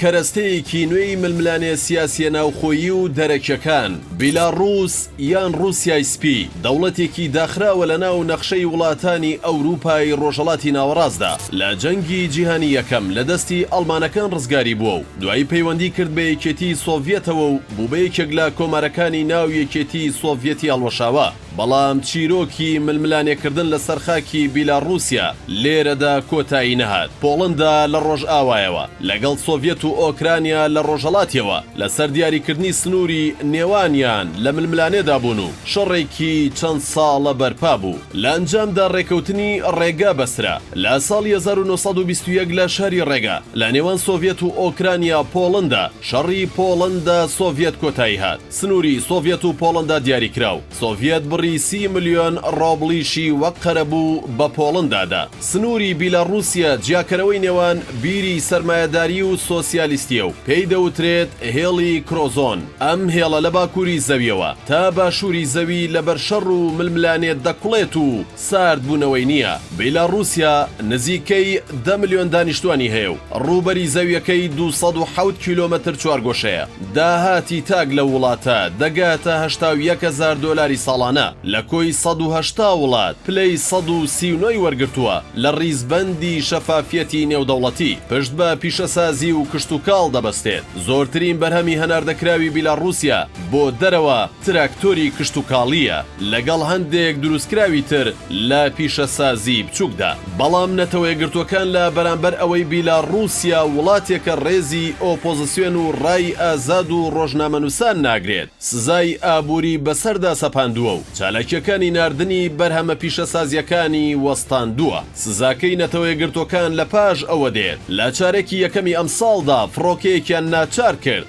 کەرەستەیەکی نوێی ململانێ سیاسییە ناوخۆیی و دەرەکیەکان، بیلاڕووس یان ڕووسیای سپی، دەوڵەتێکی داخراوە لە ناو نەخشەی وڵاتانی ئەوروپای ڕۆژەڵاتی ناوەڕاستدا، لە جەنگی جیهانی یەکەم لە دەستی ئەڵمانەکان ڕزگاری بووە و دوایی پەیوەندی کرد بە یەکێتیی سۆڤیەتەوە و بوو بە یەکێک لە کۆمارەکانی ناو یەکێتیی سۆڤیەتی هەڵوەشاوە. بەڵام چیرۆکی ململانێکردن لەسەر خاکی بیلاڕووسیا لێرەدا کۆتایی نەهات. پۆڵەندا لە ڕۆژئاوایەوە، لەگەڵ سۆڤیەت و ئۆکرانیا لە ڕۆژهەڵاتیەوە لەسەر دیاریکردنی سنووری نێوانیان لە ململانێدا بوون و شەڕێکی چەند ساڵە بەرپا بوو. لە ئەنجامدا ڕێکەوتنی ڕێگا بەسترا لە ساڵی هەزار و نۆ سەد و بیست و یەک لە شاری ڕێگا لە نێوان سۆڤیەت و ئۆکرانیا-پۆڵەندا. شەڕی پۆڵەندا-سۆڤیەت کۆتایی هات. سنووری سۆڤیەت و پۆڵەندا دیاریکرا و سۆڤیەت بڕی سی ملیۆن ڕۆبڵیشی وەک قەرەبوو بە پۆڵەندا دا. سنووری بیلاڕووسیە جیاکەرەوەی نێوان بیری سەرمایەداریی و سۆسیالیستیە و پێی دەوترێت هێڵی کرۆزۆن. ئەم هێڵە لە باکووری زەویەوە تا باشووری زەوی لەبەر شەڕ و ململانێ دەکوڵێت و، ساردبوونەوەی نییە، بیلاڕووسیا نزیکەی دە ملیۆن دانیشتووانی هەیە و ڕووبەری زەوییەکەی دوو سەد و حەوت کیلۆمەتر چوارگۆشەیە. داهاتی تاک لەو وڵاتە دەگاتە هەشتا و یەک هەزار دۆلاری ساڵانە، لە کۆی سەد و هەشتا وڵات پلەی سەد و سی و نۆ ی وەرگرتووە لە ڕیزبەندی شەفافیەتی نێودەوڵەتی، پشت بە پیشەسازی و کشتوکاڵ دەبەستێت، زۆرترین بەرهەمی هەناردەکراوی بیلاڕووسیا بۆ دەرەوە تراکتۆری کشتوکاڵییە. لەگەڵ هەندێک دروستکراوی تر لە پیشەسازیی بچووکدا. بەڵام نەتەوەیەکگرتووەکان لە بەرامبەر ئەوەی بیلاڕووسیا وڵاتێکە ڕێزی ئۆپۆزسیۆن و ڕای ئازاد و ڕۆژنامەنووسان ناگرێت، سزای ئابووری بەسەردا سەپاندووە و چالاکییەکانی ناردنی بەرهەمە پیشەسازییەکانی وەستاندووە. سزاکەی نەتەوەیەکگرتووەکان لەپاش ئەوە دێت، لە چارەکی یەکەمی ئەمساڵدا فڕۆکەیەکیان ناچار کرد،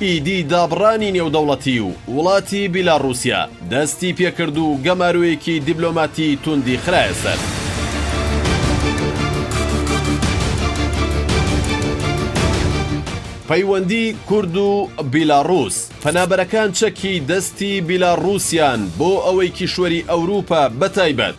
ئیدی دابڕانی نێودەوڵەتی و وڵاتی بیلاڕوسیا دەستی پێکرد و گەمارۆیەکی دیبلۆماتی توندی خرایە سەر. پەیوەندی کورد و بیلاڕوس، پەنابەرەکان چەکی دەستی بیلاڕوسیان بۆ ئەوەی کیشوەری ئەوروپا بەتایبەت،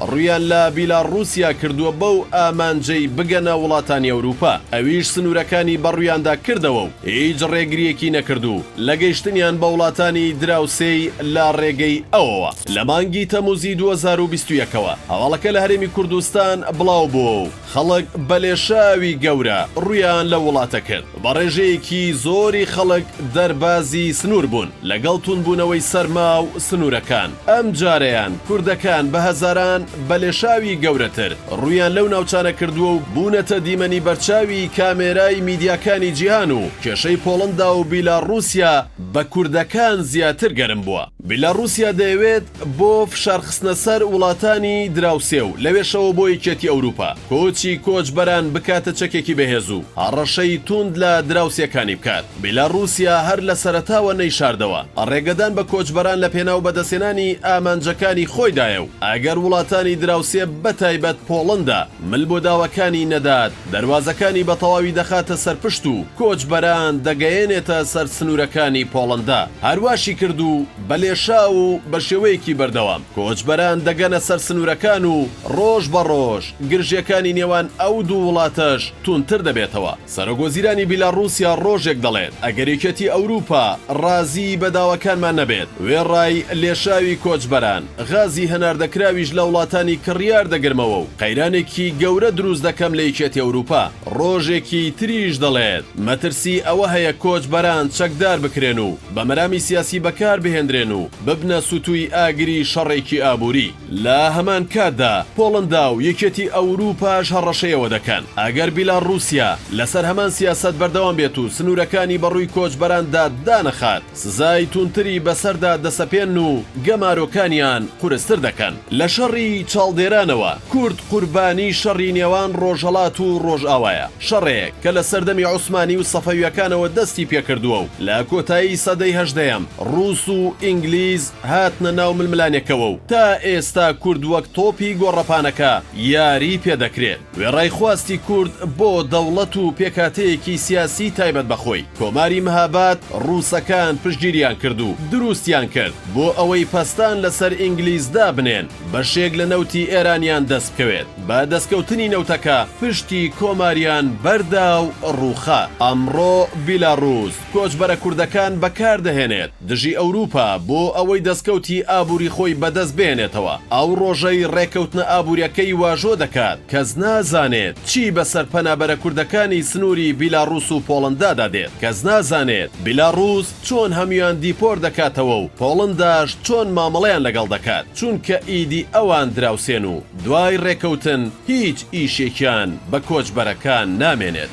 ڕوویان لە بیلاڕووسیا کردووە بەو ئامانجەی بگەنە وڵاتانی ئەوروپا، ئەویش سنوورەکانی بەڕوویاندا کردەوە و هیچ ڕێگرییەکی نەکرد و لە گەیشتنیان بە وڵاتانی دراوسێی لە ڕێگەی ئەوەوە لە مانگی تەمووزی دوو هەزار و بیست و یەک ەوە هەواڵەکە لە هەرێمی کوردستان بڵاوبووە و خەڵک بە لێشاوی گەورە ڕوویان لە وڵاتە کرد، بە ڕێژەیەکی زۆری خەڵک دەربازی سنوور بوون، لەگەڵ توندبوونەوەی سەرما و سنوورەکان، ئەم جارەیان کوردەکان بە هەزاران بە لێشاوی گەورەتر ڕوویان لەو ناوچانە کردووە و بوونەتە دیمەنی بەرچاوی کامێرای میدیاکانی جیهان و کێشەی پۆڵندا و بیلاڕووسیا بە کوردەکان زیاتر گەرم بووە. بیلاڕوسیا دەیەوێت بۆ فشارخستنە سەر وڵاتانی دراوسێ و لەوێشەوە بۆ یەکێتی ئەوروپا، کۆچی کۆچبەران بکاتە چەکێکی بەهێز و هەڕەشەی تووند لە دراوسێکانی بکات. بیلاڕوسیا هەر لە سەرەتاوە نەیشاردەوە ڕێگەدان بە کۆچبەران لە پێناو بەدەستهێنانی ئامانجەکانی خۆیدایە و ئەگەر وڵاتانی دراوسێ بەتایبەت پۆڵەندا مل بۆ داواکانی نەدات، دەروازەکانی بە تەواوی دەخاتە سەر پشت و کۆچبەران دەگەیەنێتە سەر سنوورەکانی پۆڵەندا. هەرواشی کرد و بە لێشاو و بە شێوەیەکی بەردەوام کۆچبەران دەگەنە سەر سنوورەکان و ڕۆژ بە ڕۆژ گرژییەکانی نێوان ئەو دوو وڵاتەش توندتر دەبێتەوە. سەرۆکوەزیرانی بیلاڕووسیا ڕۆژێک دەڵێت، ئەگەر یەکێتی ئەوروپا ڕازیی بە داواکانمان نەبێت، وێڕای لێشاوی کۆچبەران، غازی هەناردەکراویش لە وڵاتانی کڕیار دەگرمەوە و قەیرانێکی گەورە دروست دەکەم لە یەکێتی ئەوروپا. ڕۆژێکی تریش دەڵێت، مەترسی ئەوە هەیە کۆچبەران چەکدار بکرێن و بە مەرامی سیاسی بەکار بهێندرێن و ببنە سوتووی ئاگری شەڕێکی ئابووری. لە هەمان کاتدا پۆڵندا و یەکێتی ئەوروپاش هەڕەشەی ئەوە دەکەن، ئەگەر بیلاڕوسیا لەسەر هەمان سیاسەت بەردەوام بێت و سنوورەکانی بە ڕووی کۆچبەراندا دانەخات، سزای توندتری بەسەردا دەسەپێنن و گەمارۆکانیان قورستر دەکەن. لە شەڕی چاڵدێرانەوە، کورد قوربانی شەڕی نێوان ڕۆژهەڵات و ڕۆژئاوایە، شەڕێک کە لە سەردەمی عوسمانی و سەفەوییەکانەوە دەستی پێکردووە و لە کۆتایی سەدەی هەژدەیەم ڕووس و ئینگلیز هاتنە ناو ململانێکەوە و تا ئێستا کورد وەک تۆپی گۆڕەپانەکە یاریی پێ دەکرێت. وێڕای خواستی کورد بۆ دەوڵەت و پێکهاتەیەکی سیاسیی تایبەت بە خۆی، کۆماری مهاباد ڕووسەکان پشتگیریان کرد و درووستیان کرد، بۆ ئەوەی پەستان لەسەر ئینگلیز دابنێن، بەشێک لە نەوتی ئێرانیان دەست بکەوێت، بە دەستکەوتنی نەوتەکە پشتی کۆماریان بەردا و ڕووخا. ئەمڕۆ بیلاڕووس کۆچبەرە کوردەکان بەکاردەهێنێت دژی ئەوروپا بۆ ئەوەی دەستکەوتی ئابوری خۆی بەدەست بێنێتەوە ئەو ڕۆژەی ڕێکەوتنە ئابوریەکەی واژۆ دەکات کەس نازانێت چی بەسەر پەنابەرە کوردەکانی سنوری بیلاڕوس و پۆڵندادا دێت کەس نازانێت بیلاڕوس چۆن هەمیان دیپۆر دەکاتەوە و پۆڵنداش چۆن مامەڵەیان لەگەڵ دەکات چونکە ئیدی ئەوان دراوسێن و دوای ڕێکەوتن هیچ ئیشێکیان بە کۆچبەرەکان نامێنێت.